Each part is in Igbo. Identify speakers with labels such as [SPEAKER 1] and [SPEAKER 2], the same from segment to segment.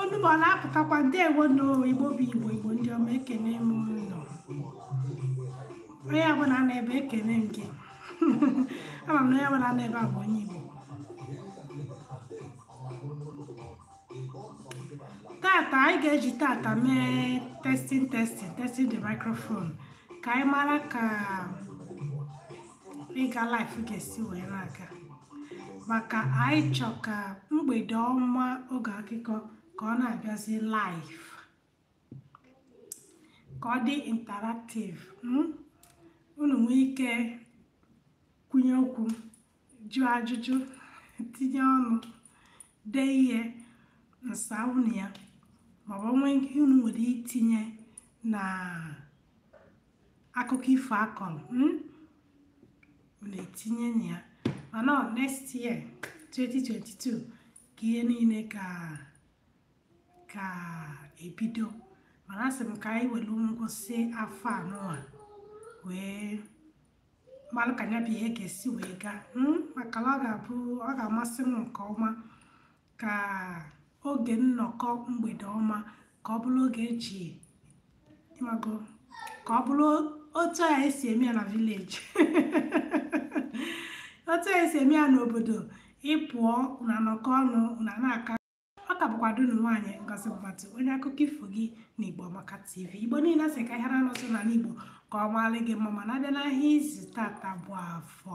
[SPEAKER 1] Onu m ọ na-apụtakwa ndewonụ igbo bụ igbo igbo ndị ọma ekene m unu onye ọbụla nọ ebe ekene m gị ama m na onye ọbụla nọ ebe a bụ onye igbo tata anyị ga-eji tata mee testing testing testing the microphone ka anyị mara ka dịka live ga-esi wee na-aga maka anyị chọ ka mgbede ọma oge akụkọ ka ọ na-abịazi live ka ọ dị interactive hmm? unu nwee ike kwunye okwu jụọ ajụjụ tinye ọnụ dee ihe m saa unu ya maọbụ ihe unu nwere itinye na akụkọ ifo a kọrọ hmm? na-etinye na ya mana next year 2022 ka ihe niile ga ga-ebido mana asị m ka anyị were ngwụsị afọ anụwa wee malụ ka ya bụ ihe ga-esi wee gaa hmm? maka na ọ ga-abụ ọ ga-amasị m nke ọma ka oge nnọkọ mgbede ọma ka ọ bụrụ oge eji ịmago ka ọ bụrụ otu a esi eme ya na village otu a esi eme ya n'obodo ị pụọ unu anọkọ ọnụ unu na-akọ ọ ka bụkwa ada unu nwaanyị Ngozi Mbatụ onye akụkọ ifo gị na Igbo Amaka TV Igbo niile asị ka ahịa anọ zụ n'ala Igbo ka ọ maalị gị mma mana abịa n'ahịa izu tata bụ afọ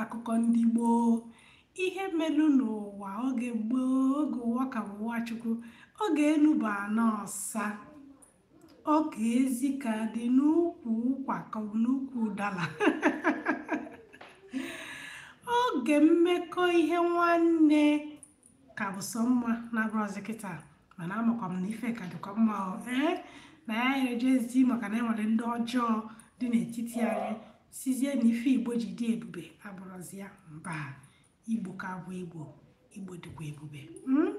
[SPEAKER 1] akụkọ ndị gboo ihe melu n'ụwa oge gboo oge ụwa ka bụ ụwa chukwu oge enu bụ ana ọsa oge ezi ka dị n'ukwu ụkwa ka ọ bụ n'ukwu ụdala oge mmekọ ihe nwanne ka bụ sọ mma na-abụrọzi kịta mana amakwa m na ife ka dịkwa mma ọ ee na ya anyị ejizi maka na enwere ndị ọjọọ dị n'etiti anyị sịzie na ife igbo ji dị ebube abụrọzi ya mba igbo ka bụ igbo igbo dịkwa ebube hmm?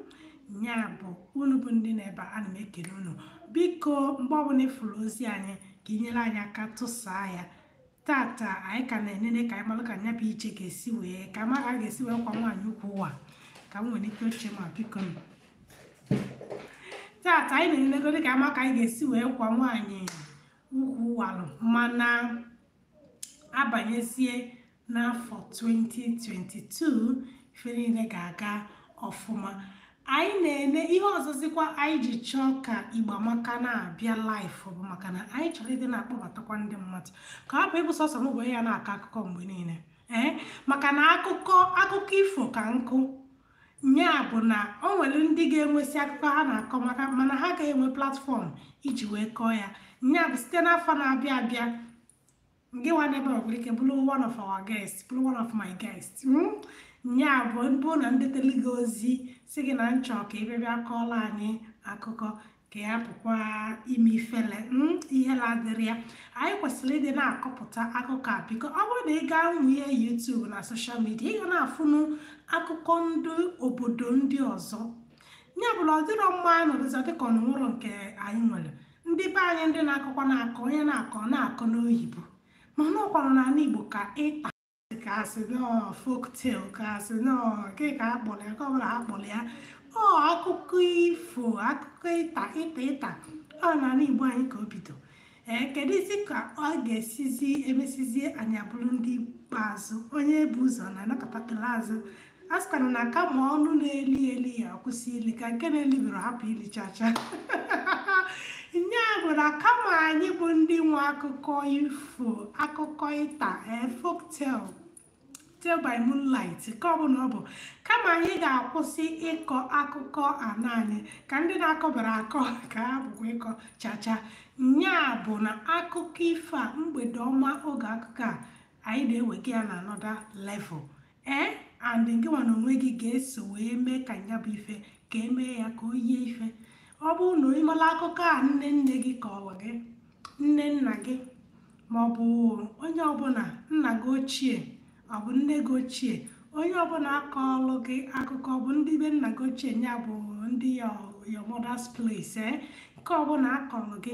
[SPEAKER 1] nya bụ unu bụ ndị nọ ebe ana m ekele unu biko mgbe ọbụla ịfụrụ ozi anyị ka inyere anyị aka tụsaa ya tata anyị ka na-enene ka anyị malụ ka nya bụ ihe ga-esi wee ka a ma ka a ga-esi wee kwọ nwaanyị ukwu wa ka m nwere ike oche ma biko m tata anyị na-enenegode ka ama ka anyị ga-esi wee kwọ nwaanyị ukwu walụ mana abanyezie n'afọ 2022 ife niile ga-aga ọfụma anyị na-eme ihe ọzọzikwa anyị ji chọọ ka Igbo Amaka na-abịa live bụ maka na anyị chọrọ ịdị na-akpọbatakwa ndị mmadụ ka ọ hapụ ịbụ sọsọ m bụ ya na-akọ akụkọ mgbe niile ee maka na akụkọ akụkọ ifo ka nkụ nya bụ na o nwere ndị ga-enwesị akụkọ ha na-akọ maka mana ha agaghị enwe platform iji wee kọọ ya nya bụ site n'afọ na-abịa abịa ngịnwa n'ebe ọ nwere ike bụrụ one of our guests bụrụ one of my guests hmm? nya bụ bụ na m detele gị ozi sị gị na m chọ ka ị bịa bịa kọọla anyị akụkọ ka ị hapụkwa ime ifele hmm? ihele adịrọ ya anyị kwesịrị ịdị na-akọpụta akụkọ a biko ọ bụrụ na ị gaa n'ụmụ ihe YouTube na social media ị ga na-afụnụ akụkọ ndị obodo ndị ọzọ ya bụrụ ọ dịrọ mma anyị nọdụzi dịka o nwerọ nke anyị nwere ndị be anyị ndị na-akọkwa na-akọ onye na-akọ na-akọ n'oyibo mana ọkwanụ n'ala igbo ka ịta ka a sị na ọ folktale ka a sị na ọ nke ka a kpọrọ ya nke ọ bụla a kpọrọ ya ọ akụkọ ifo akụkọ ịta ịta ịta ọ n'ala igbo anyị ka o bido ee kedụzi ka ọ ga-esizi emesizie anyị abụrụ ndị ikpeazụ onye bu ụzọ na-anakọtatala azụ a sịkwana na kama ọnụ na-eli eli ya akwụsị ili ka nke na-elibero hapụ ili chacha nya bụ na kama anyị bụ ndị nwe akụkọ ifo akụkọ ịta eh, folktale tale by moonlight nke ọbụla ọ bụ kama anyị ga-akwụsị ịkọ akụkọ ana anyị ka ndị na-akọbarọ akọ ka ha hapụkwa ịkọ chacha nya bụ na akụkọ ifo a mgbede ọma oge akụkọ a anyị na-ewega ya na another level ee and ngịnwa n'onwe gị ga-eso wee mee ka ya bụ ife ka e mee ya ka o yie ife ọ bụrụ na ị mala akụkọ a nne nne gị kọrọ gị nne nna gị ma ọ bụ onye ọbụla nna gị ochie ọ bụ nne gị ochie onye ọbụla akọọlụ gị akụkọ ọ bụ ndị be nna gị ochie ya bụ ndị your your mother's place eh? nke ọbụla a kọrọ gị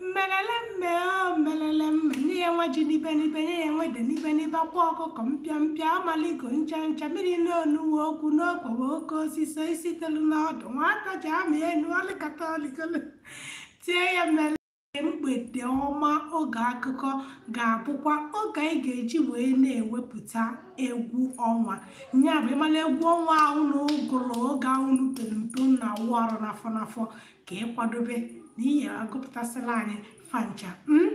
[SPEAKER 1] mmelele mme o mmelele mme nye ya nwa ji n'ibe n'ibe nye ya nwa ede n'ibe n'ibe akwa ọkụkọ mpịa mpịa amaligo ncha ncha mmiri n'onuwe okwu n'okpogbo oke osisi isi telu n'ọdụ nwata ji ama enu ọlịkata ọlịkolo tie ya mmele mgbede ọma oge akụkọ ga-abụkwa oge anyị ga-eji wee na-ewepụta egwu ọnwa nya bụ ị mala egwu ọnwa ahụ unu gụrụ oge ahụ unu pere mpe na-awụ arụ n'afọ n'afọ ka ị kwadobe na ị ya-agụpụtasịla anyị fa ncha hmm?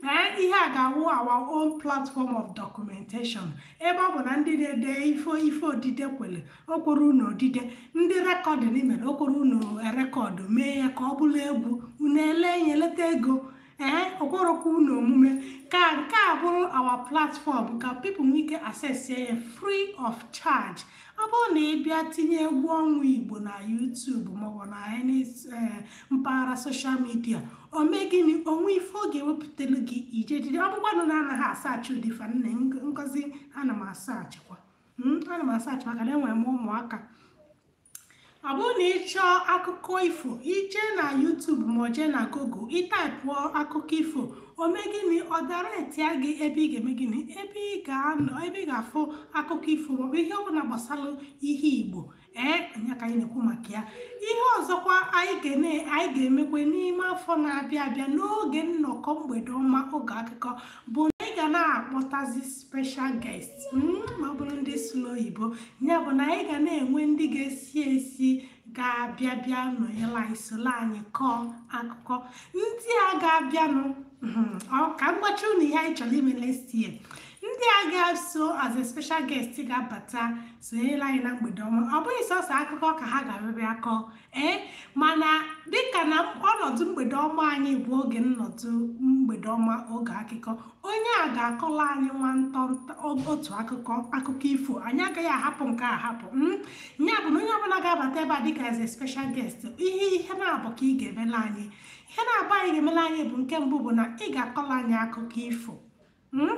[SPEAKER 1] ee ihe a ga-awụ our own platform of documentation ebe ọ bụ na ndị na-ede ife ife odide kwere o kwero unu odide ndị recording mere o kwero unu record mee ya ka ọ bụrụ egwu unu ele ya eleta ego ee okworokwu na omume ka nke a bụrụ our platform ka people nwee ike access ya free of charge ọ bụrụ na ị bịa tinye egwu ọnwa igbo na YouTube maọbụ na any eh, mpaghara social media o mee gịnị o nwe ife ọ ga-ewepụtelu gị ije jide ọ bụkwanụ na anaghị asaachị ụdị ife a nne Ngozi ana m asaachịkwa hmm, ana m asaachị maka na enwere m ụmụaka ọ bụrụ na ị chọọ akụkọ ifo ị je na YouTube ma jee na Google ị taipụọ akụkọ ifo o mee gịnị ọ directịa gị ebe ị ga-eme gịnị ebe ị ga-anọ ebe ị ga-afụ akụkọ ifo maọbụ ihe ọbụla gbasara ihe Igbo ee nya ka anyị na-ekwu maka ya ihe ọzọkwa anyị ga-emekwe n'ime afọ na-abịa abịa n'oge nnọkọ mgbede ọma oge akụkọ bụ na anyị ga na-akpọtazi special guest hmm, ma ọ bụrụ ndị sụ n'oyibo ya bụ na anyị ga na-enwe ndị ga-esi ezi ga-abịa bịa nọnyere anyị soro anyị kọọ akụkọ ndị a ga-abịanụ hmm, ka m gwacha unu ihe anyị chọrọ ime next year ndị a ga-eso as a special guest ga-abata sonyere anyị na mgbede ọma ọ bụghị sọsọ akụkọ ka ha ga-abịa kọọ ee mana dịka na ọnọdụ mgbede ọma anyị bụ oge nnọdụ mgbede ọma oge akụkọ onye a ga-akọla anyị nwa ntọntọ otu akụkọ akụkọ ifo anyị agaghị ahapụ nke a ahapụ mm, ya bụ na onye ọbụla ga-abata ebe a dịka as a special guest ihe ihe naabọ ka ị ga-emela anyị ihe naabọ a ị ga-emela anyị bụ nke mbụ bụ na ị ga-akọla anyị akụkọ ifo Hmm?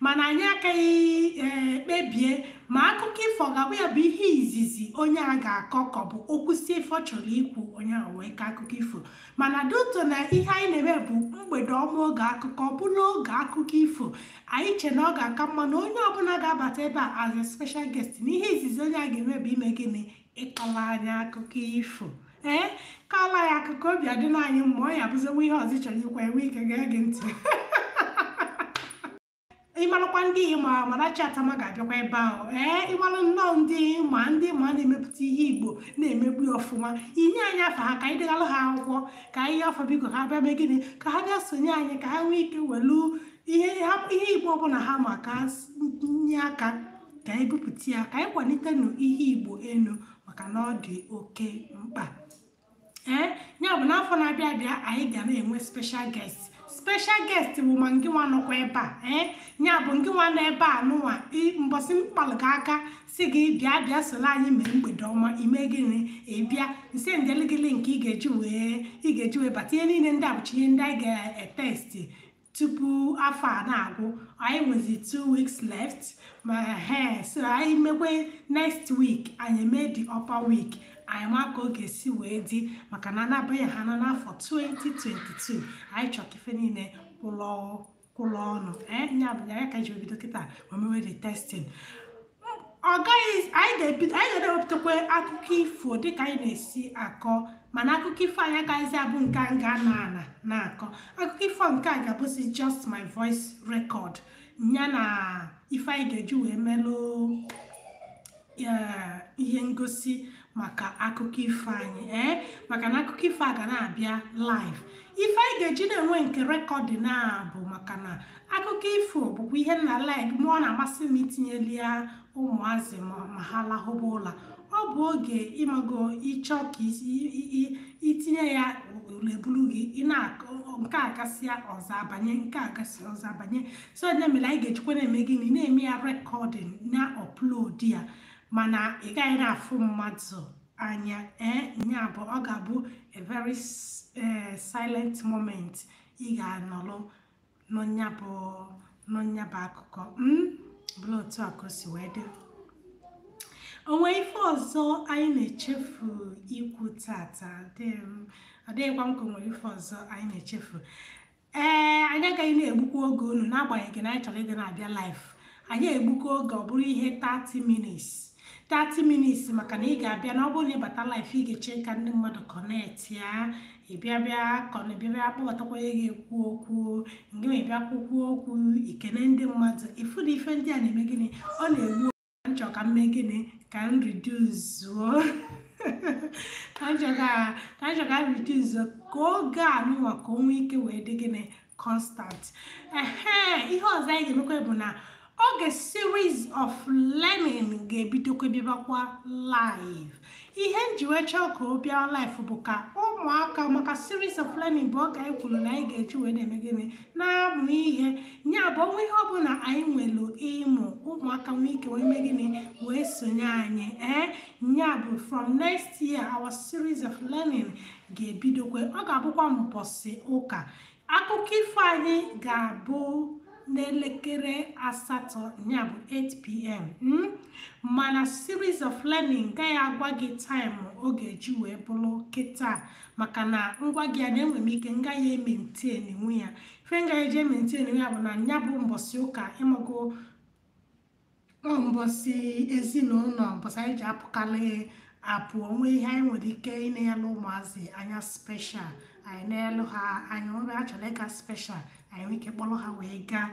[SPEAKER 1] mana anyị akaghị eh, kpebie ma akụkọ ifo ga-abụ ya bụ ihe izizi onye a ga-akọ ka ọ bụ o kwusịa ife ọ chọrọ ikwu onye ahụ wee kọọ akụkọ ifo mana due to na ihe anyị na-eme bụ mgbede ọma oge akụkọ ọ bụ na oge akụkọ ifo anyị che na ọ ga-aka mma na onye ọbụla ga-abata ebe a as a special guest na ihe izizi onye a ga-eme bụ ime gịnị ịkọla anyị akụkọ ifo ee kọla anyị akụkọ obi adịna anyị mma ọ ya bụziwa ihe ọzọ ị chọrọ ikwu e wee gee ntị ị marakwa ndị ị ma Amarachi Attamah ga-abịakwa ebe ahụ ee ị mara nnọọ ndị ị ma ndị ị ma na-emepụta ihe igbo na-emepụ ya ọfụma ị nye anyị afa ha ka anyị degara ha akwụkwọ ka anyị afọ biko ha bịa mee gịnị ka ha bịa sonye anyị ka ha nwee ike welu ihe ha- ihe igbo ọbụla ha ma ka ha s- nye aka ka anyị bupụta ya ka anyị kwalitenụ ihe igbo enu maka na ọ dị oke mkpa ee ya bụ n'afọ na-abịa abịa anyị ga na-enwe special guest special guest bụ ma ngị nwa nọkwa ebe a ee ya bụ ngị nwa nọ ebe a nụnwa mbọsị m kpalụ gị aka sị gị bịa bịa soro anyị mee mgbede ọma ị mee gịnị ị bịa m sendeli gị link ị ga-eji wee ị ga-eji wee bata ihe niile ndị a bụcha ihe ndị anyị ga-etesti tupu afọ a na-agwụ anyị nwezi two weeks left ma he so anyị mekwe next week anyị mee the upper week anyị ma ka ọ ga-esi wee dị maka na anabaghị ha na n'afọ 2022 anyị chọrọ ka ife niile kwụlọ kwụlọ ọnụ ee nya bụ ya ka e ji bido kịta wee mewe the testing ọ gaghị anyị ga-ebido anyị ga-ewepụtakwa akụkọ ifo dịka anyị na-esi akọ mana akụkọ ifo anyị agaghịzi abụ nke m ga na-anọ na-akọ akụkọ ifo nke a ga-abụzi just my voice record ya na ife anyị ga-eji wee melụ ihe ngosi maka akụkọ ifo anyị ee eh? maka na akụkọ ifo a ga na-abịa live ife anyị ga-eji na-enwe nke recording a bụ maka na akụkọ ifo bụkwa ihe m na like ma ọ na-amasị m itinyeli ya ụmụazị ma ha lahụba ụla ọ bụ oge ị mago ị chọ ka i tinye ya ụla ebulu gị nke a gasịa ọzọ abanye nke a gasị ọzọ abanye so ya mere anyị ga-ejikwa na-eme gịnị na-eme ya recording na upload ya mana ị gaghị na-afụ mmadụ anya ee nya bụ ọ ga-abụ a very eh, silent moment ị ga-anọrọ nụọ nya bụ nụọ nya bụ akụkọ mm? bụrụ otu a ka o si wee dị o nwere ife ọzọ anyị na-echefu ikwu tata dị m ọ dịghịkwa m ka o nwere ife ọzọ anyị na-echefu ee anyị agaghị na-egbukwa oge unu n'agbanyeghị na anyị chọrọ ịdị na-abịa live anyị egbukwa oge ọ bụrụ ihe 30 minutes 30 minutes maka na ị ga-abịa na ọ bụrụ na ị bata live ị ga-eche ka ndị mmadụ connect ya ị bịa bịa kọna ị bịa bịa kpọbatakwa onye ga-ekwu okwu ngị ma ị bịa kwukwuo okwu i kene ndị mmadụ ị fụ na ife ndị a na-eme gịnị ọ na-egbu m chọrọ ka m mee gịnị ka m riduzuo ka m chọrọ ka m riduzuo ka oge a nụnwa ka o nwee ike wee dị gịnị constant ehe ihe ọzọ anyị ga-emekwa bụ na oge series of learning ga-ebidokwa bịabakwa live ihe m ji wee chọọ ka ọ bịa live bụ ka ụmụaka maka series of learning bụ oge anyị kwuru na anyị ga-eji wee na-eme gịnị na-amụ ihe nya bụ o nwee ihe ọbụla anyị nwere ịmụ ụmụaka nwee ike wee mee gịnị wee sonye anyị ee nya bụ from next year our series of learning ga-ebidokwe ọ ga-abụkwa mbọsị ụka akụkọ ifo anyị ga-abụ n'elekere asatọ ya bụ 8pm hmm? mana series of learning ngaghị agwa gị time ọ ga-eji wee bụrụ kịta maka na m gwa gị ya na enwe m ike ngaghị emaintain nwu ya ife ngaghị eji emaintain nwu ya bụ na ya bụ mbọsị ụka ị mago ọ mbọsị ezinụlọ mbọsị anyị ji apụkalị apụ o nwee ihe anyị nwere ike ịna-elụ ụmụazị anyị special anyị na-elụ ha anyị nwere a chọrọ ịga special anyị nwere ike kpọrọ ha wee gaa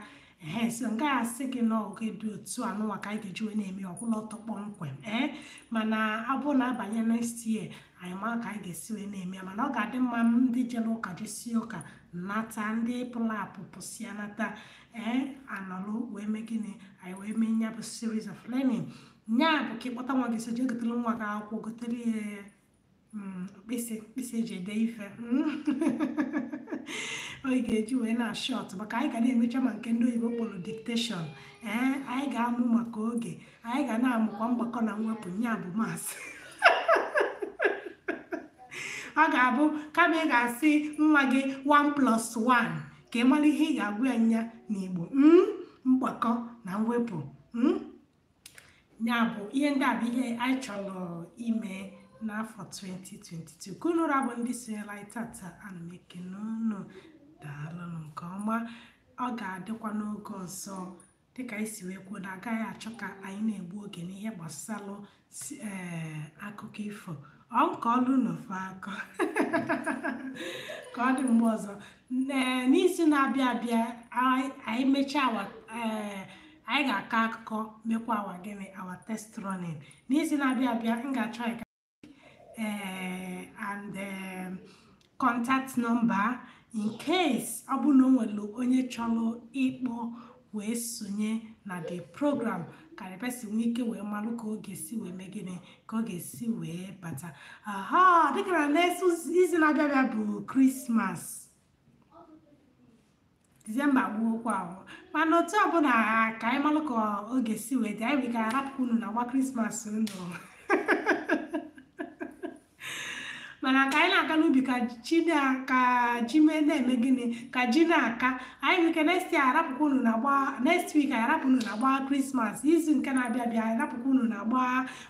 [SPEAKER 1] ee so m gaghị asị gị na oge dị otu a n'ụwa ka anyị ga-eji wee na-eme ọgwụla ọtọ kpọmkwem ee mana ọ bụrụ na a banye next year anyị mara ka anyị ga-esi wee na-eme ya mana ọ ga-adị mma ndị jere ụka jesịa ụka nata ndị pụrụ apụ pụsịa nata ee a nọlụ wee mee gịnị anyị wee mee ya bụ series of learning nya bụ ka ị kpọta nwa gị so jee gotere nwa gị akwụkwọ gotere ya mm, mkpịsị mkpịsị eji ede ife ọ ga-eji wee na shọt maka anyị ga na-emecha ma nke ndị oyibo kpọrọ dictation ee anyị ga-amụ maka oge anyị ga na-amụkwa mgbakọ na mwepụ nya bụ maths ọ ga-abụ kama ị ga-asị nwa gị 1 plus 1 ka ị mara ihe ị ga-agwa ya nya n'igbo mm, mgbakọ na mwepụ mm. ya bụ ihe ndị a bụ ihe anyị chọrọ ime n'afọ 2022 ka unu ra bụ ndị sonyela anyị tata ana m ekene unu daalụnụ nke ọma ọ ga-adịkwa n'oge ọzọ dịka anyị si wee kwuo na a gaghị achọ ka anyị na-egbu oge n'ihe gbasalụ eh, akụkọ ifo ọ nke ọlụ n'ofe akọ ka ọ dị mgbe ọzọ eh, n'izu na-abịa abịa anyị mechaa eh, anyị ga-akọ akụkọ mekwa our gịnị our test running n'izu na-abịa abịa m ga-achọ uh, and um, contact number in case ọ bụrụ na o nwere onye chọrọ ịkpọ wee sonye na the program ka the person nwee ike wee malụ ka ọ ga-esi wee mee gịnị ka ọ ga-esi wee bata aha dịka na next izu na-abịa abịa bụ krismas disemba gwụokwa ahụ mana otu ọbụla ka anyị malụ ka oge si wee dị anyị ga arapụ unu na gba krismas unu mana ka anyị na-aga n'ubi ka ji na-eme gịnị ka ji na-aka anyị nwee ike next year arapụkwa unu na gba next week anyị arapụ unu na gba krismas izu nke na-abịa abịa anyị arapụkwa unu na gba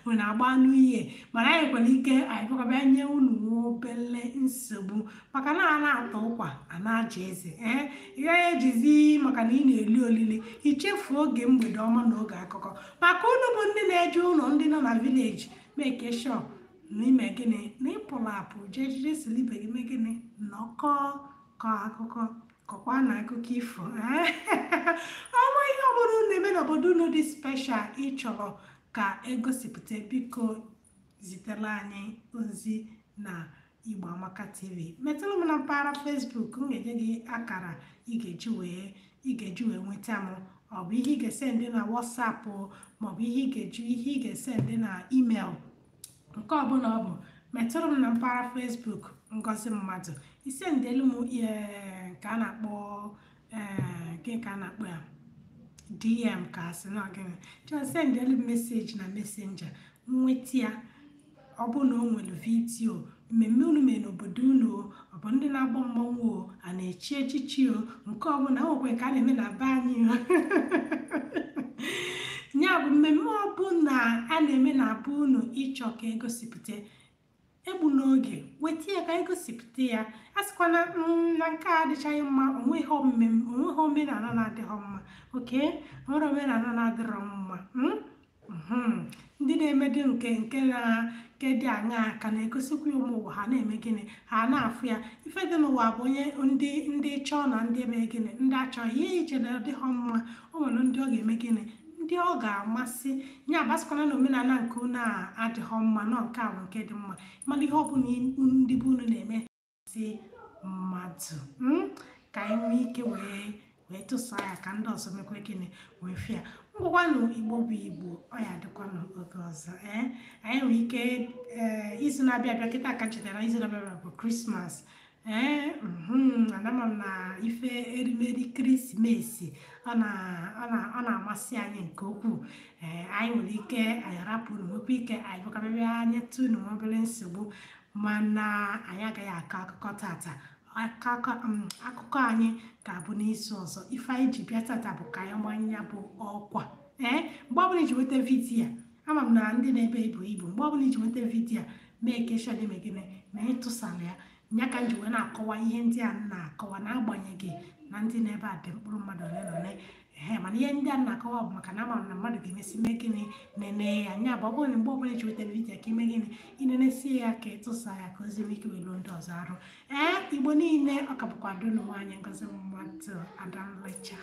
[SPEAKER 1] unu na gba new year mana anyị nwere ike anyị bịakwa bịa nye unu obele nsogbu maka na a na-ata ụkwa a na-aja eze ee ị gaghị ejizi maka na ị na-eli olili i chefuo oge mgbede ọma na oge akụkọ maka unu bụ ndị na-eje ụlọ ndị na-ana village make sure na i me gịnị na ị pụrụ apụ jee jide silibe gị mee gịnị nọkọ kọ akụkọ kọkwa na akụkọ ifo ee o nwee ihe ọbụla unu na-eme n'obodo unu dị special ị chọrọ ka e gosipụta biko zitela anyị ozi na Igbo Amaka TV metụrụ m na mpaghara Facebook m ga-enye gị akara ị ga-eji wee ị ga-eji wee nweta m ọ bụ ihe ị ga-esend na WhatsApp maọbụ ihe ị ga-eji ihe ị ga-esend na email nke ọbụla ọ bụ metụrụ m na mpaghara Facebook Ngozi Mmadụ i sendelu m nke a na-akpọ eh, gịnị ka a na-akpọ ya dm ka a sị na ọ gịnị just sendelu message na messenger nweta ya ọ bụrụ na o nwere vidio mmemme unu mee n'obodo unu ọ bụ ndị na-agba mmanwụ o a na-echi echichi o nke ọbụla nwekwe ka a na-eme na be anyị o ya bụ mmemme ọbụla a na-eme na be unu ị chọọ ka e gosipụta egbula oge weta ya ka anyị gosipụta ya a sịkwana "Mm, na nke a adịchaghị mma o nweghị omem- o nweghị omenala na-adịghị mma o nwere omenala na-adịrọ mma mm? Mhm. ndị na-emedị nke nke na nke dị aṅaa ka na-egosikwa ya ụmụ ụwa ha na-eme gịnị ha na-afụ ya ife dị n'ụwa bụ onye ndị ndị chọọ na ndị emee gịnị ndị achọghị ihe i che na ọ dịghị mma o nwere ndị ọ ga-eme gịnị ndị ọ ga-amasị ya bụ asịkwana na omenala nke unu a adịghị mma na ọ nke a bụ nke dị mma mana ihe ọbụla ndị be unu na-eme si mmadụ mm, ka anyị nwee ike wee wee tụsaa ya ka ndị ọzọ mekwa gịnị wee fụ ya ngwakwanụ igbo bụ igbo ọ ya dịkwanụ oge ọzọ ee anyị nwere ike ee izu na-abịa abịa kịta ka m chetara izu na-abịa abịa bụ krismas ee mhm, anama m na ife erimeri kirisimesi ọ na- ọ na- ọ na-amasị anyị nke ukwuu ee anyị nwere ike anyị rapụ unu nwekwa ike anyị bịakwa abịa anyị tụ unu nwa obere nsogbu mana anyị agaghị akọ akụkọ tata akụkọ mm, akụkọ anyị ga-abụ n'izu ọzọ ife anyị ji bịa tata bụ ka anyị maa nya bụ ọkwa ee mgbe ọbụla i ji nweta vidiyo a ama m na ndị nọ ebe a ebughị ibu mgbe ọbụla i ji nweta vidiyo a make sure na i mee gịnị na ị tụsara ya nya ka m ji wee na-akọwa ihe ndị a m na-akọwa n'agbanyeghị na ndị nọ ebe a dị mkpụrụ mmadụ ole na ole ehe mana ihe ndị a m na-akọwa bụ maka na ama m na mmadụ ga-emesị mee gịnị nene ya nya bụ ọ bụrụ na mgbe ọbụla i ji nweta vidiyo ka i mee gịnị i nenesie ya ka ị tụsa ya ka ozi nwee ike wee luo ndị ọzọ arụ ee igbo niile ọ ka bụkwa ada unu nwaanyị ngozi mmadụ ada nlecha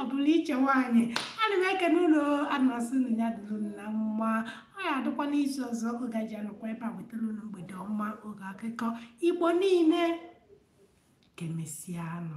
[SPEAKER 1] ọ bụrụ iche nwaanyị ana m ekene unu ana m asị nya dịrị unu mma ọ ya adịkwa n'izu ọzọ oge anyị ji anọkwa ebe a ewetara unu mgbede ọma oge akụkọ igbo niile kemesianụ